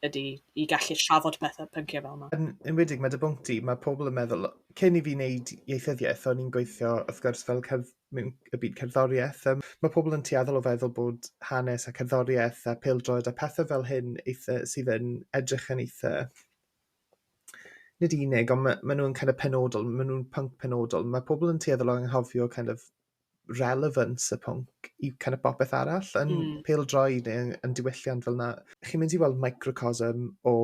ydi i gallu trafod pethe pynciau fel 'ma. Yn enwedig ma' dy bwnc di ma' pobl yn meddwl o- cyn i fi neud ieithyddiaeth o'n i'n gweithio wrth gwrs fel cerdd- mewn y byd cerddoriaeth yym ma' pobl yn tueddol o feddwl bod hanes a cerddoriaeth a pêl-droed a pethe fel hyn eitha sydd yn edrych yn eitha nid unig ond ma' ma' nw'n kind of penodol ma' nw'n pwnc penodol ma' pobl yn tueddol o anghofio kind of relevance y pwnc i kind of bopeth arall yn mm. pildroed neu yn, yn diwylliant fel yna. Chi'n mynd i weld microcosm o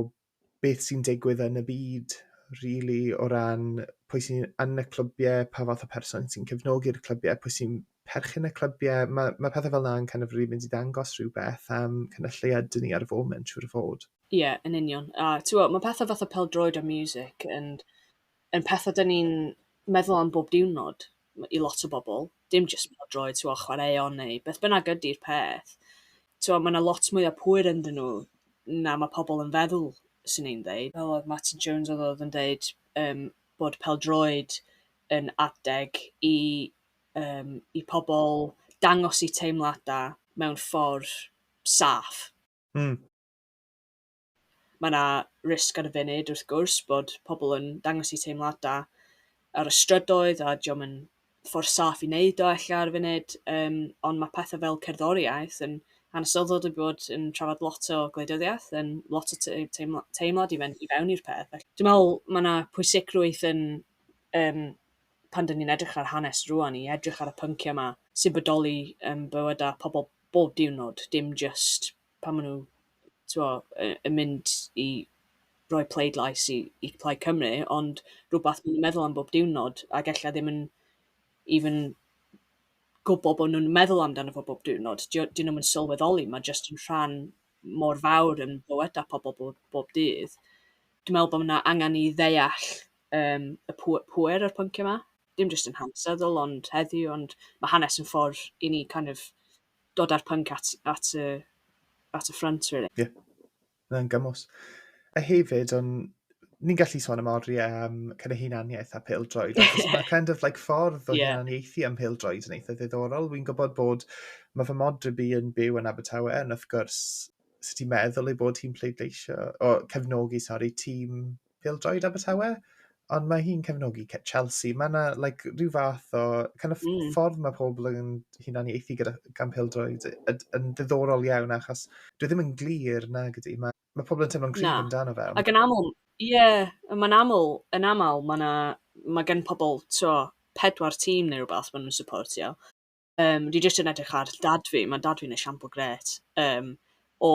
beth sy'n digwydd yn y byd, really, o ran pwy sy'n yn y clybiau, pa fath o person sy'n cefnogi'r clybiau, pwy sy'n perchyn y clybiau. Mae, mae pethau fel yna'n kind of really mynd i ddangos rhywbeth am kind of lle ydyn ni ar y foment, siwr o fod. Ie, yeah, yn union. A ti'n gwybod, mae pethau fath o peldroed a music yn yn pethe 'dan ni'n meddwl am bob diwrnod m- i lot o bobl, dim jyst pêl-droed, t'mo', chwaraeon neu beth bynnag ydi'r peth. T'mo', ma' 'na lot mwy o pŵer ynddyn nhw na ma' pobl yn feddwl, 'swn i'n ddeud. Fel oedd Martin Jones oedd oedd yn deud yym bod pêl-droed yn adeg i yym i pobl dangos 'u teimladau mewn ffordd saff. Mm. Mae 'na risg ar y funud wrth gwrs bod pobl yn dangos eu teimladau ar y strydoedd a 'di o'm yn ffordd saff i wneud o ella ar y funud yym ond mae pethau fel cerddoriaeth yn hanesyddol wedi bod yn trafod lot o gwleidyddiaeth yn lot o te- teimla- teimlad i fynd i fewn i'r peth. Felly, Dwi'n meddwl mae 'na pwysigrwydd yn yym pan 'dyn ni'n edrych ar hanes rŵan i edrych ar y pynciau 'ma sy'n bodoli yn bywydau pobl bob diwrnod dim jyst pan maen nhw tibod, yy yn mynd i roi pleidlais i i Plaid Cymru, ond rhywbeth maen nhw'n meddwl am bob diwrnod, ac ella ddim yn even gwybod bod nhw'n meddwl amdano fo bob diwrnod. Dio- 'dyn nhw'm yn sylweddoli, mae jyst yn rhan mor fawr yn bywydau pobl bob bob dydd. Dwi'n meddwl bod 'na angen i ddeall yym y pŵ- pŵer o'r pynciau 'ma, dim jyst yn hanesyddol ond heddiw, ond ma' hanes yn ffordd i ni kind of dod â'r pwnc at, at, y, at y ffrant, really. Ie, yeah. mae'n gymwys. A hefyd, on, ni'n gallu sôn am oriau am um, kind of hunaniaeth a pildroed, achos mae kind of like ffordd o yeah. hunaniaethu am pildroed yn eitha ddiddorol. Wy'n gwybod bod mae fy modryb i yn byw yn Abertawe, yn wrth gwrs, sut ti'n meddwl ei bod hi'n pleidleisio, o cefnogi, sori, tîm pêl-droed Abertawe, ond mae hi'n cefnogi Chelsea. Mae yna like, rhyw fath o kind of mm. ffordd mae pobl yn hunan i eithi gyda gan pêl-droed yn ddiddorol iawn achos dwi ddim yn glir na gyda. Mae, mae pobl yn teimlo'n cryf amdano fe. Ac yn aml, ie, yeah, mae'n aml, yn aml, mae, na, mae gen pobl tro, pedwar tîm neu rhywbeth maen nhw'n supportio. Yym, dwi jyst yn edrych ar dad fi, ma' dad fi'n esiampl grêt, yym, o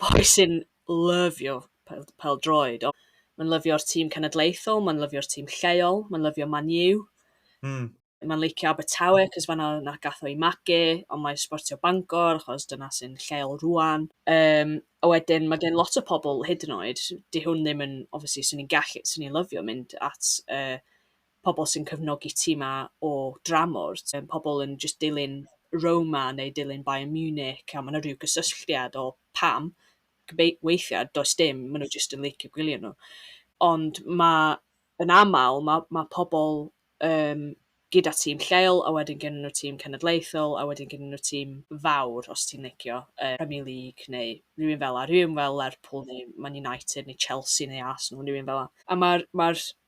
boi sy'n lyfio pel- pêl-droed. O, mae'n lyfio'r tîm cenedlaethol, mae'n lyfio'r tîm lleol, mae'n lyfio Man U... Mm. ...mae'n licio Abertawe achos fan'na wnaeth... gaeth o'i magu, ond mae'n sbortio Bangor achos dyna sy'n lleol rŵan. Yym, a wedyn ma' gen lot o pobl hyd yn oed, 'di hwn ddim yn... obviously 'swn i'n gallu... 'swn i'n lyfio mynd at yy pobl sy'n cefnogi ti 'ma o dramor, ti'n pobl yn jyst dilyn Roma neu dilyn Bayern Munich a mae 'na rhyw gysylltiad o pam, gybei- weithiau does dim, maen nhw jyst yn licio gwylio nhw. Ond mae yn aml, mae, mae pobl um, gyda tîm lleol a wedyn gen nhw tîm cenedlaethol a wedyn gen nhw tîm fawr os ti'n licio uh, Premier League neu rhywun fel a rhywun fel Lerpwl neu Man United neu Chelsea neu Arsenal rhywun fel a. A mae'r mae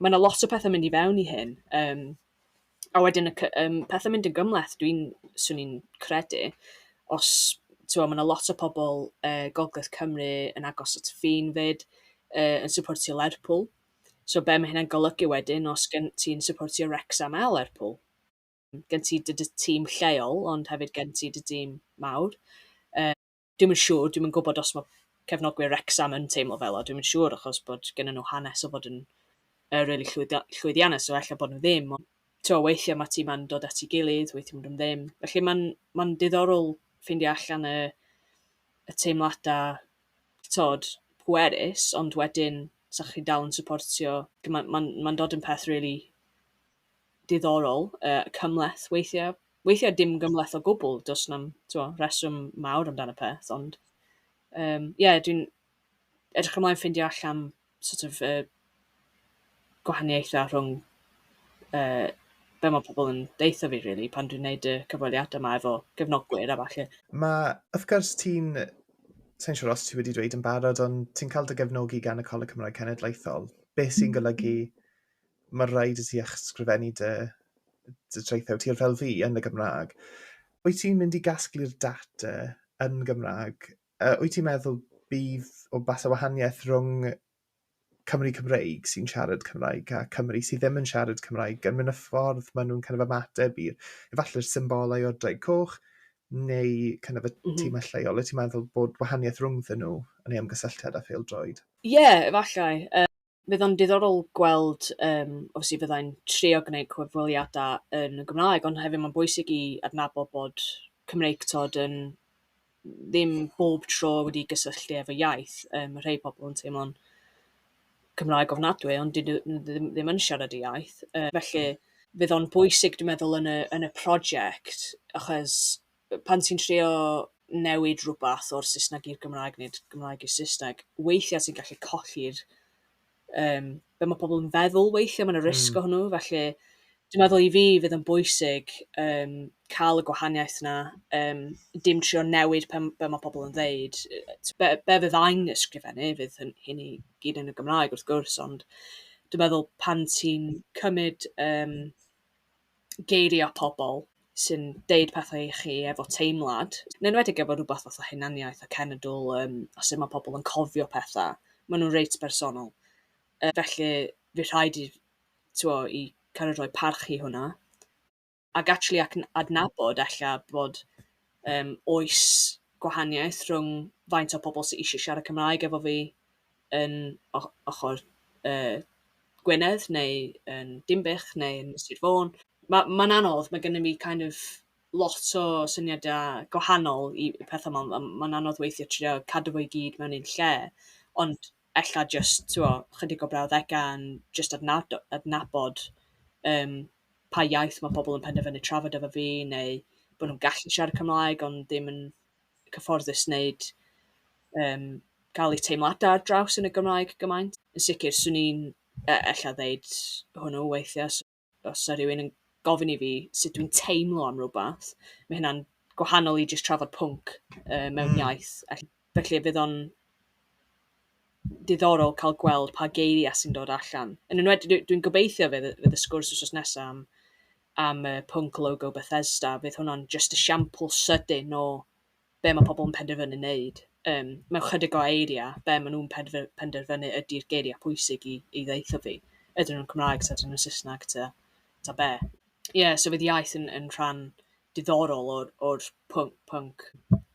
mae 'na lot o pethau'n mynd i fewn i hyn, yym a wedyn y c- yym pethau'n mynd yn gymhleth dwi'n... 'swn i'n credu, os tibod mae 'na lot o pobl o Gogledd Cymru yn agos at y ffin 'fyd, yy yn syportio Lerpwl, so be mae hynna'n golygu wedyn os gen ti'n syportio Wrecsam a Lerpwl? Gen ti dy tîm lleol ond hefyd gen ti dy dîm mawr. dwi'm yn siŵr, dwi'm yn gwybod os mae cefnogwyr Wrecsam yn teimlo fel 'na, dwi'm yn siŵr achos bod gennyn nhw hanes o fod yn yy rili llwyddo- llwyddiannus so ella bod nhw ddim ond t'mo' weithia' ma' timau'n dod at 'i gilydd weithia' ma' nhw ddim. Felly ma'n ma'n diddorol ffeindio allan y y teimlada t'od pwerus ond wedyn 'sa chi'n dal yn supportio ma'n ma'n ma'n dod yn peth rili diddorol, yy, cymhleth weithiau. Weithiau dim gymhleth o gwbl, does 'na'm, tibod, rheswm mawr amdano peth, ond yym ie, dwi'n edrych ymlaen ffeindio allan sort of y gwahaniaethau rhwng yy be mae pobl yn deutha fi rili pan dwi'n wneud y cyfweliadau 'ma efo gefnogwyr a ballu. Mae, wrth gwrs, ti'n... Sa i'n siŵr os ti wedi dweud yn barod, ond ti'n cael dy gefnogi gan y Coleg Cymraeg Cenedlaethol, beth sy'n golygu mae'n rhaid i ti ysgrifennu dy, dy traethau tir fel fi yn y Gymraeg. Wyt ti'n mynd i gasglu'r data yn Gymraeg? Uh, wyt ti'n meddwl bydd o bas o wahaniaeth rhwng Cymru Cymreig sy'n siarad Cymraeg a Cymru sydd ddim yn siarad Cymraeg yn mynd y ffordd maen nhw'n kind of ymateb i'r efallai'r symbolau o'r draig coch neu kind of y mm -hmm. tîmau lleol. Wyt ti'n meddwl bod wahaniaeth rhwngddyn nhw yn ei ymgysylltiad â phêl-droed? Ie, yeah, efallai. Um, fydd o'n diddorol gweld yym os i fyddai'n trio gwneud cyfweliadau yn y Gymraeg, ond hefyd mae'n bwysig i adnabod bod Cymreictod yn ddim bob tro wedi gysylltu efo iaith. Yym, mae rhai pobl yn teimlo'n Cymraeg ofnadwy, ond dydyn nhw ddim ddim yn siarad y iaith. Yy felly, fydd o'n bwysig, dwi'n meddwl, yn y yn y prosiect, achos pan ti'n trio newid rhywbeth o'r Saesneg i'r Gymraeg neu'r Gymraeg i'r Saesneg, weithiau ti'n gallu colli'r um, be mae pobl yn feddwl weithiau, mae'n y risg mm. o hwnnw, felly dwi'n meddwl i fi fydd yn bwysig um, cael y gwahaniaeth yna, um, dim trio newid pe, be mae pobl yn ddeud. Be, be fydd a'n ysgrifennu fydd hyn, hyn i gyd yn y Gymraeg wrth gwrs, ond dwi'n meddwl pan ti'n cymryd um, geiriau pobl sy'n deud pethau i chi efo teimlad, yn enwedig efo rhywbeth fatha hunaniaeth a cenedl um, a sut mae pobl yn cofio pethau. Maen nhw'n reit bersonol. Uh, felly, fi rhaid i, twa, i kind of rhoi parch i hwnna. Ac actually ac adnabod ella bod um, oes gwahaniaeth rhwng faint o pobl sy'n eisiau siarad Cymraeg efo fi yn o- ochr yy Gwynedd neu yn Dinbych neu yn Sir Fôn. Ma' ma'n anodd, ma' gennym ni kind of lot o syniadau gwahanol i i pethau 'ma. M- ma'n anodd weithiau trio cadw fo i gyd mewn un lle, ond ella jyst, tibod, ychydig o brawddegau yn jyst adnabdo- adnabod yym pa iaith ma' pobl yn penderfynu trafod efo fi, neu bod nhw'n gallu siarad Cymraeg ond ddim yn cyfforddus wneud yym cael eu teimladau ar draws yn y Gymraeg gymaint. Yn sicr, 'swn i'n e- ella ddeud hwnnw weithiau os os 'sa rhywun yn gofyn i fi sut dwi'n teimlo am rywbeth, mae hynna'n gwahanol i jyst trafod pwnc yy mewn... mm. ...iaith. Ell- felly fydd o'n diddorol cael gweld pa geiriau sy'n dod allan. Yn enwedig dwi dwi'n gobeithio fydd y fydd y sgwrs wythnos nesa am am y pwnc logo Bethesda, fydd hwnna'n jyst esiampl sydyn o be mae pobl yn penderfynu wneud. Um, mewn chydig o eiriau, be maen nhw'n penderfynu ydy'r geiriau pwysig i, i ddeitho fi. Ydyn nhw'n Cymraeg, ta ydyn nhw'n Saesneg, ta, ta be. Ie, yeah, so fydd iaith yn, yn rhan diddorol o'r, or pwnc, pwnc.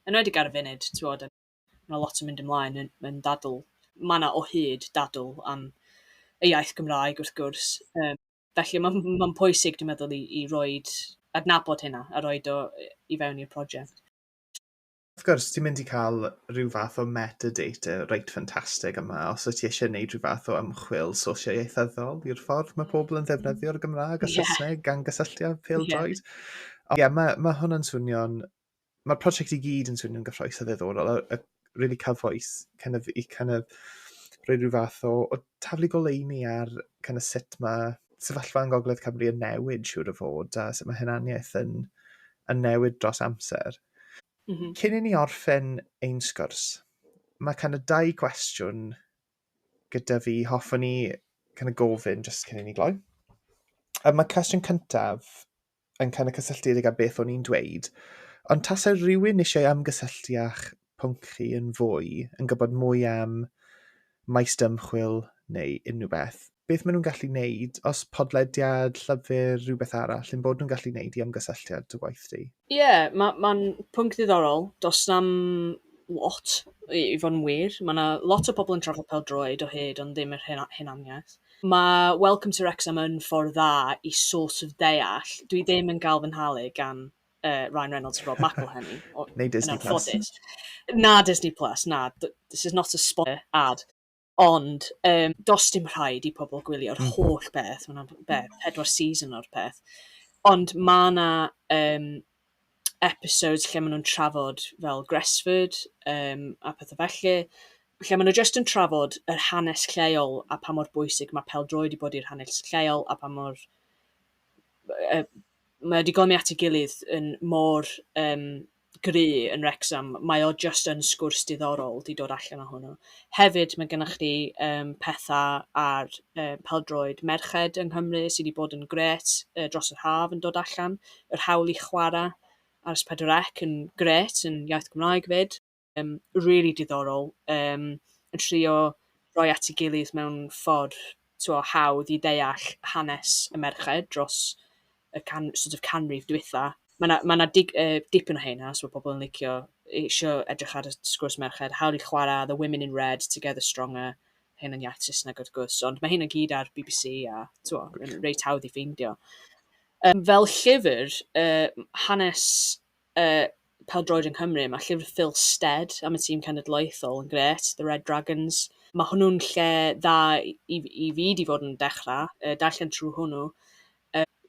Yn wedi ar y funud, ti'n bod, mae yna lot yn mynd ymlaen yn, yn dadl. Mae yna o hyd dadl am y iaith Gymraeg, wrth gwrs. Um, Felly mae'n m- mae'n pwysig, dwi'n meddwl, i i roid... adnabod hynna a roid o i i fewn i'r prosiect. Wrth gwrs, ti'n mynd i cael rhyw fath o metadata reit ffantastig yma os wyt ti eisiau gwneud rhyw fath o ymchwil socio-ieithyddol i'r ffordd mae pobl yn ddefnyddio'r Gymraeg a Saesneg yeah. gan gysylltiad pêl-droed. Yeah. Ond ie, yeah, mae, mae hwn yn swnio'n mae'r prosiect i gyd yn swnio'n gyffroes a ddiddorol, a, a really cyfoes, kind of, i kind of, rhoi rhyw fath o, o taflu goleini ar kind of, sut mae sefyllfa yn Gogledd Cymru yn newid siwr o fod, a sut mae hynaniaeth yn, yn newid dros amser. Mm -hmm. Cyn i ni orffen ein sgwrs, mae kind of dau gwestiwn gyda fi, hoffwn ni kind of gofyn jyst cyn i ni gloi. A mae cwestiwn cyntaf yn cael y cysylltiedig â beth o'n i'n dweud, ond tasai rhywun eisiau ymgysylltu â'ch pwnc chi yn fwy, yn gwybod mwy am maes dymchwil neu unrhyw beth, beth maen nhw'n gallu wneud, os podlediad, llyfr, rhywbeth arall, yn bod nhw'n gallu wneud i ymgysylltu â dy waith di? Ie, yeah, mae'n ma pwnc ddiddorol. Does na'm lot, i, i fod yn wir. Mae yna lot o pobl yn trafod pel-droed o hyd, ond ddim yr hunaniaeth. Mae Welcome to Wrexham yn ffordd dda i sort of deall. Dwi ddim yn gael fy nhalu gan uh, Ryan Reynolds a Rob McElhenney. Neu Disney Plus. Na Disney Plus, na. This is not a sponsor ad. Ond, um, dos dim rhaid i pobl gwylio'r mm. holl beth. Mae'n beth, pedwar season o'r peth. Ond mae yna um, episodes lle maen nhw'n trafod fel Gresford um, a pethau felly, lle maen nhw jyst yn trafod yr hanes lleol a pa mor bwysig mae peldroed wedi bod i'r hanes lleol a pa mor... Uh, mae wedi gomi at ei gilydd yn mor um, gry yn Rexham, mae o just yn sgwrs diddorol di dod allan o hwnnw. Hefyd, mae gennych chi um, pethau ar um, peldroed merched yng Nghymru sydd wedi bod yn gret uh, dros yr haf yn dod allan. yr hawl i chwarae ar S4C yn grêt, yn iaith Gymraeg 'fyd. Yym, rili diddorol, yym, yn trio rhoi at ei gilydd mewn ffordd, tibod, hawdd i ddeall hanes y merched dros y can- sort of canrif dwytha. Mae 'na, mae 'na dig- yy dipyn o rheina, os ma' pobl yn licio, isio edrych ar y sgwrs merched, hawl i chwarae, The Women in Red, Together Stronger, rhein yn iaith Saesneg wrth gwrs, ond mae rheina i gyd ar bbc a, tibod, reit hawdd i ffeindio. Yym, fel llyfr, yy, hanes, yy, pêl-droed yng Nghymru, ma' llyfr Phil Stead am y tîm cenedlaethol yn grêt, The Red Dragons. Ma' hwnnw'n lle dda i f- i fi 'di fod yn dechra, yy, darllen trwy hwnnw,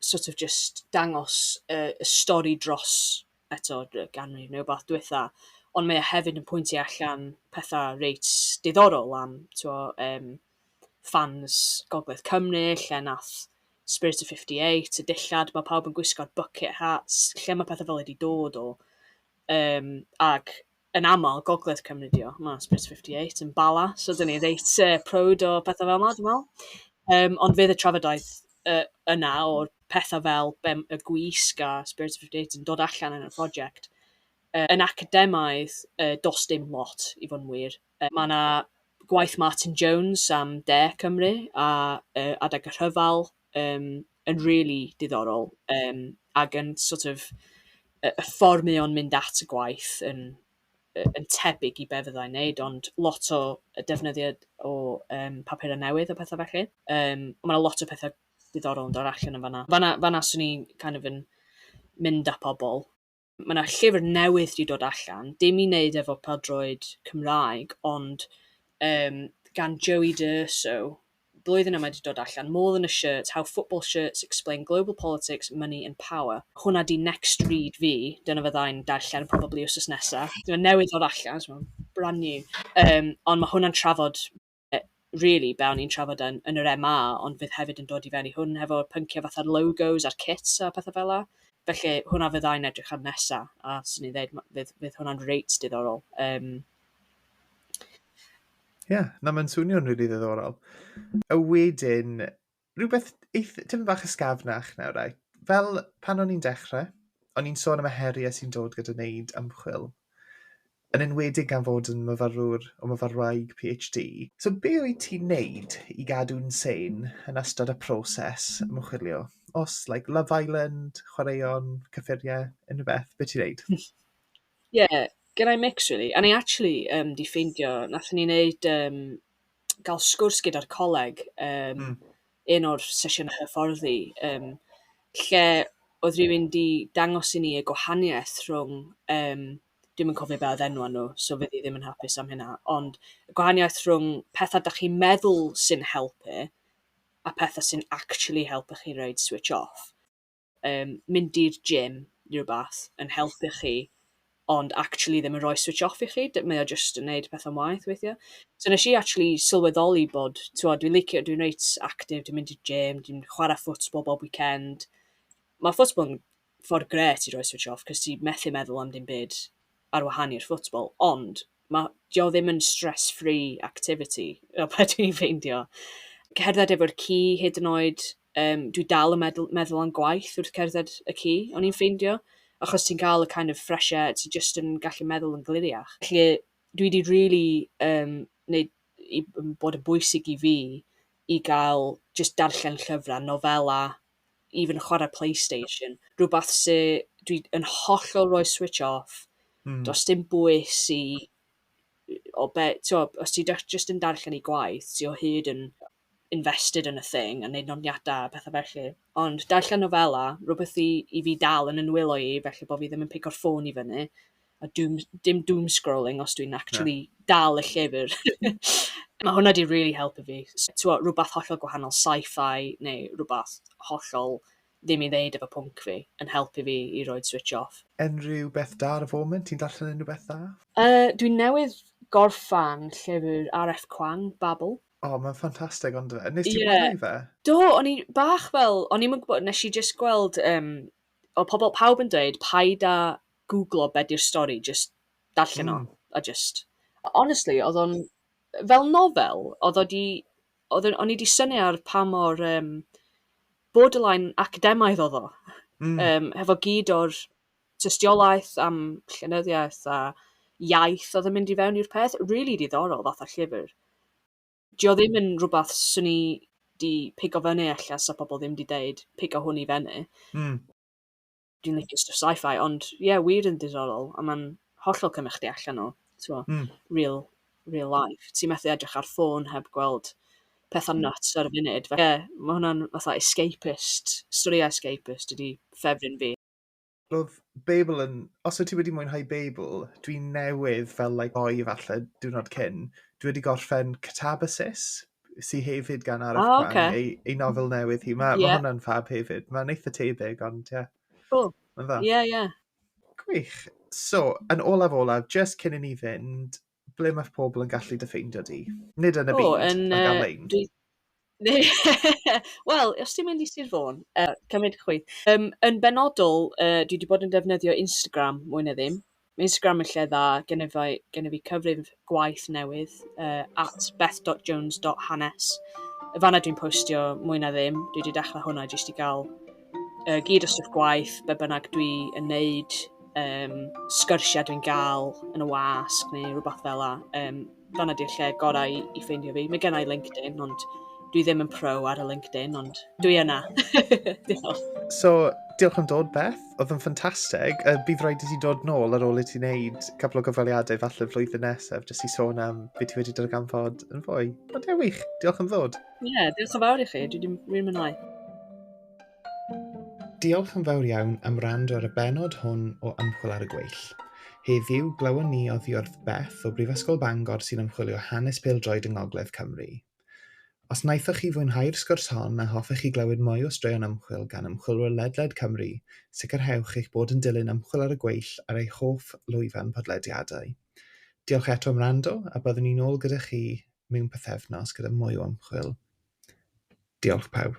sort of jyst dangos y y stori dros, eto, y ganrif neu wbath dwetha, ond mae o hefyd yn pwyntio allan petha reit diddorol am, t'mo', yym, fans Gogledd Cymru lle wnaeth Spirit of 58 y dillad mae pawb yn gwisgo'r bucket hats lle mae pethau fel wedi dod o um, ac yn aml Gogledd Cymru di o mae Spirit of 58 yn bala so dyn ni reit uh, proud o pethau fel yma dwi'n meddwl um, ond fydd y trafodaeth uh, yna o'r pethau fel bem, y gwisg a Spirit of 58 yn dod allan yn y prosiect uh, yn academaidd uh, dos dim lot i fod yn wir Mae yna gwaith Martin Jones am De Cymru a yy adeg y rhyfel yym yn rili diddorol yym ac yn sort of y y ffordd mae o'n mynd at y gwaith yn yy yn tebyg i be' fyddai'n neud ond lot o yy defnyddio o yym papura' newydd a petha felly. Yym ma' 'na lot o petha diddorol yn dod allan yn fan'na. Fan'na fan'na swn i'n kind of yn mynd â pobl. Mae 'na llyfr newydd 'di dod allan, dim i wneud efo pêl-droed Cymraeg, ond um, gan Joey D'Urso, blwyddyn yma wedi dod allan, More Than A Shirt, How Football Shirts Explain Global Politics, Money and Power. Hwna di next read fi, dyna fyddai'n darllen probably wrth nesaf. Dyna newydd ddod allan, so brand new. Um, ond mae hwnna'n trafod rili be o'n i'n trafod yn yn yr MA, ond fydd hefyd yn dod i fewn i hwn hefo pynciau fatha'r logos a'r kits a pethau fel 'na. Felly hwnna fydda i'n edrych ar nesa, a 'swn i'n dweud fydd fydd hwnna'n reit diddorol. Um, Ie, yeah, na mae'n swnio'n rili ddiddorol. A wedyn, Rhywbeth eith- tipyn bach ysgafnach nawr, right. Fel pan o'n i'n dechrau, o'n i'n sôn am y heriau sy'n dod gyda wneud ymchwil, yn enwedig gan fod yn myfyrwr o myfyrwraig PhD. So be wyt ti'n wneud i gadw'n sane yn ystod y proses ymchwilio? Os, like, Love Island, chwaraeon, cyffuriau, unrhyw beth, be ti'n wneud? Ie, yeah, gen i mix, really. A ni actually um, di ffeindio, nath ni wneud um, gael sgwrs gyda'r coleg, um, mm. un o'r sesiynau hyfforddi, um, lle oedd rhywun di dangos i ni y gwahaniaeth rhwng, um, dwi'n yn cofio beth oedd enw nhw, so fydd i ddim yn hapus am hynna, ond y gwahaniaeth rhwng pethau da chi'n meddwl sy'n helpu a pethau sy'n actually helpu chi reid switch off. yym, mynd i'r gym neu rywbeth yn helpu chi, ond actually ddim yn rhoi switch off i chi, d- mae o jyst yn wneud pethau'n waeth weithiau. So wnes i actually sylweddoli bod, tibod, dwi'n licio... dwi'n reit active, dwi'n mynd i'r gym, dwi'n chwarae football bob weekend. Ma' football yn ffordd grêt i roi switch off, cos ti methu meddwl am dim byd ar wahân i'r football, ond ma'... 'di o ddim yn stress-free activity, fel be dwi'n ffeindio. Cerdded efo'r ci hyd yn oed, yym, dwi dal yn medl- meddwl am gwaith wrth cerdded y ci, o'n i'n ffeindio, achos ti'n cael y kind of fresh air, ti jyst yn gallu meddwl yn gliriach. Felly, dwi 'di rili yym neud i m- bod yn bwysig i fi i gael jyst darllen llyfrau, nofela, even chwarae Playstation, rhywbeth sy... dwi yn hollol rhoi switch off, does dim bwys i o be... Tibod, os ti da- jyst yn darllen i gwaith, ti o hyd yn... invested yn y thing a wneud nodiadau a pethau felly. Ond darllen nofela, rhywbeth i, i fi dal yn ynwylo i, felly bod fi ddim yn pico'r ffôn i fyny. A doom, dim doom scrolling os dwi'n actually yeah. dal y llyfr. Mae hwnna di really helpu fi. Twa, rhywbeth hollol gwahanol sci-fi neu rhywbeth hollol ddim i ddeud efo pwnc fi yn helpu fi i roed switch off. Unrhyw beth da ar y foment? Ti'n darllen unrhyw beth da? Uh, dwi'n newydd gorffan llyfr R.F. Kuang, Babel. O mae'n ffantastig on'd yfe? Wnest ti wylio fe? Do o'n i bach fel o'n i'm yn gwybod nes i jyst gweld um, o pobl pawb yn dweud paid a googlo be di'r stori jyst darllen mm. o hmm. a jyst honestly oedd o'n fel nofel oedd o di oedd o'n i di syni ar pa mor um, borderline academaidd oedd o. Mm. Um, hefo gyd o'r tystiolaeth am llenyddiaeth a iaith oedd yn mynd i fewn i'r peth. Rili diddorol fath o llyfr. 'Di o ddim yn rhywbeth 'swn i 'di pigo fyny ella 'sa pobl ddim 'di deud pigo hwn i fyny. Hmm. Dwi'n licio stwff sci-fi ond ie wir yn diddorol a ma'n hollol cymryd chdi allan o t'mo'... Hmm. ...real real life. Ti methu edrych ar ffôn heb gweld petha nyts ar y funud. Felly ie ma' hwnna'n fatha escapist, storïau escapist ydi ffefryn fi. Roedd Babel yn... Os wyt ti wedi mwynhau Babel, dwi newydd fel like ddoe falle diwrnod cyn, dwi wedi gorffen Catabasis, sy hefyd gan Arif oh, Kwan, okay. ei, ei nofel newydd hi. Mae yeah. ma hwnna'n fab hefyd. Mae'n eitha tebyg, ond ie. Yeah. Cool. Mae'n dda. Ie, yeah, ie. Yeah. Gwych. So, yn olaf olaf, just cyn i ni fynd, Ble mae pobl yn gallu dy ffeindio di? Nid yn y byd, ond ar-lein. Wel, os ti'n mynd i Sir Fôn, uh, cymryd chwi. Um, yn benodol, uh, dwi wedi bod yn defnyddio Instagram mwy na ddim. Mae Instagram yn lle dda, gen i fi, gen i fi cyfrif gwaith newydd, uh, at beth.jones.hanes. Y fanna dwi'n postio mwy na ddim, dwi wedi dechrau hwnna jyst i gael Yy, gyd o stwff gwaith, be' bynnag dwi yn neud, yym, sgyrsia dwi'n ga'l yn y wasg neu rwbath fela, yym, fan'na 'di'r lle gorau i i ffeindio fi. Mae genna i LinkedIn, ond dwi ddim yn pro ar y LinkedIn, ond dwi yna. Diolch. So, diolch am dod, Beth. Oedd yn ffantastig. Uh, bydd rhaid i ti dod nôl ar ôl i ti wneud cwpl o gyfweliadau falle flwyddyn nesaf, jyst i sôn am beth ti wedi darganfod yn fwy. Ond ewych, diolch am ddod. Ie, yeah, diolch yn fawr i chi, dwi wedi mwynhau. Diolch yn fawr iawn am rand ar y benod hwn o Ymchwil ar y Gweill. Heddiw, glywon ni oddi wrth Beth o Brifysgol Bangor sy'n ymchwilio hanes pêl-droed yng Ngogledd Cymru. Os wnaethoch chi fwynhau'r sgwrs hon a hoffech chi glywed mwy o straeon ymchwil gan ymchwilwyr ledled Cymru, sicrhewch eich bod yn dilyn Ymchwil ar y Gweill ar eich hoff lwyfan podlediadau. Diolch eto am rando a byddwn ni'n ôl gyda chi mewn pythefnos gyda mwy o ymchwil. Diolch pawb.